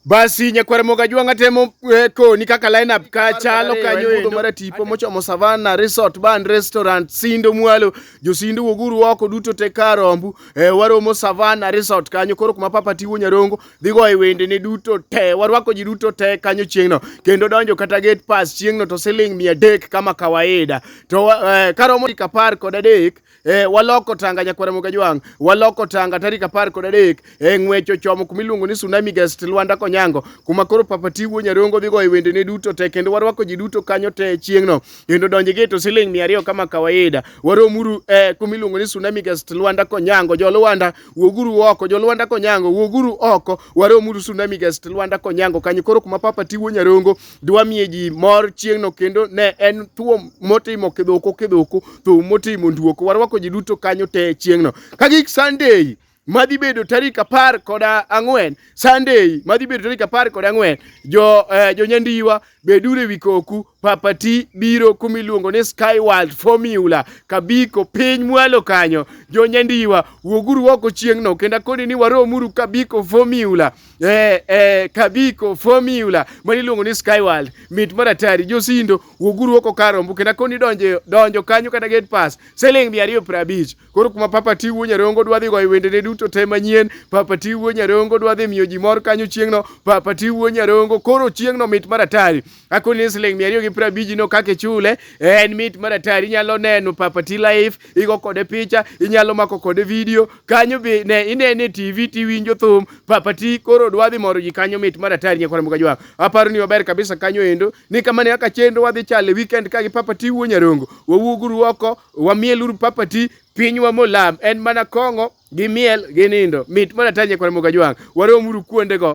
Basi nyakwar moga jwanga temo eh, koni kaka lineup ka chalo kanyo endo mara tipo mochomo Savana Resort Bar and Restaurant Sindo Mwalo josindo woguru oko duto te karombu eh, waromo Savana Resort kanyo koro kuma papa tiwo nyarongo dhigo e wende ne duto te warwako ji duto te kanyo chieng'no kendo donjo kata gate pass chieng'no to siling mia dek kama kawaida to eh, karomo kapar kod adek e, waloko tanga nyakwara moga jwang waloko tanga tarik apar kod adek e, ng'wech ochomo kuma iluongo ni tsunami guest lwanda konyango kuma koro papa tiwuo nyarongo dhi goyo wendene duto te kendo warwako ji duto kanyo te chieng'no kendo donji gi to siling mia ariyo kama kawaida waromuru e, kuma iluongo ni tsunami guest lwanda konyango jolwanda wuoguru oko jolwanda konyango wuoguru oko waromuru tsunami guest lwanda konyango kanyo koro kuma papa tiwuo nyarongo dwamiye ji mor chieng'no kendo ne en thuo motimo kidhoko kidhoko thuo motimo nduoko warwako ji duto kanyo te chieng'no kagik sunday madhi bedo tarik apar kod ang'wen sunday madhi bedo tarik apar kod ang'wen jo eh, jonyandiwa beduru ewi koku papati biro kuma iluongo ni sky world formula kabiko piny mwalo kanyo jonyandiwa wuoguru oko chieng'no kendo akoni ni waromuru kabiko formula Eh, eh, kabiko formula ma iluongo ni Skyworld mit mar atari josindo wuoguru oko kar rombo kendo koni donjo donjo kanyo kata gate pass siling mia ariyo piero abich koro kuma papa tiwuo nyarongo dwa dhi goyo wendene duto te manyien papa tiwuo nyarongo dwa dhi miyo ji mor kanyo chieng'no papa tiwuo nyarongo koro chieng'no mit mar atari Ako ni siling mia ariyo gi piero abich no kaka ichule en mit mar atari inyalo neno Papa T Life igo kode picha inyalo mako kode video kanyo be ne inene TV tiwinjo thum Papa T koro dwa dhi moro ji kanyo mit mar atari nyakwara muka jwa aparo ni waber kabisa kanyo endo ni kama ne kaka chenro wadhi chale weekend ka gi Papa T wuo nyarongo wawuoguru oko wamieluru Papa T pinywa molam en mana kong'o gi miel gi nindo mit mar atari nyakwara muka jwa waromuru kuondego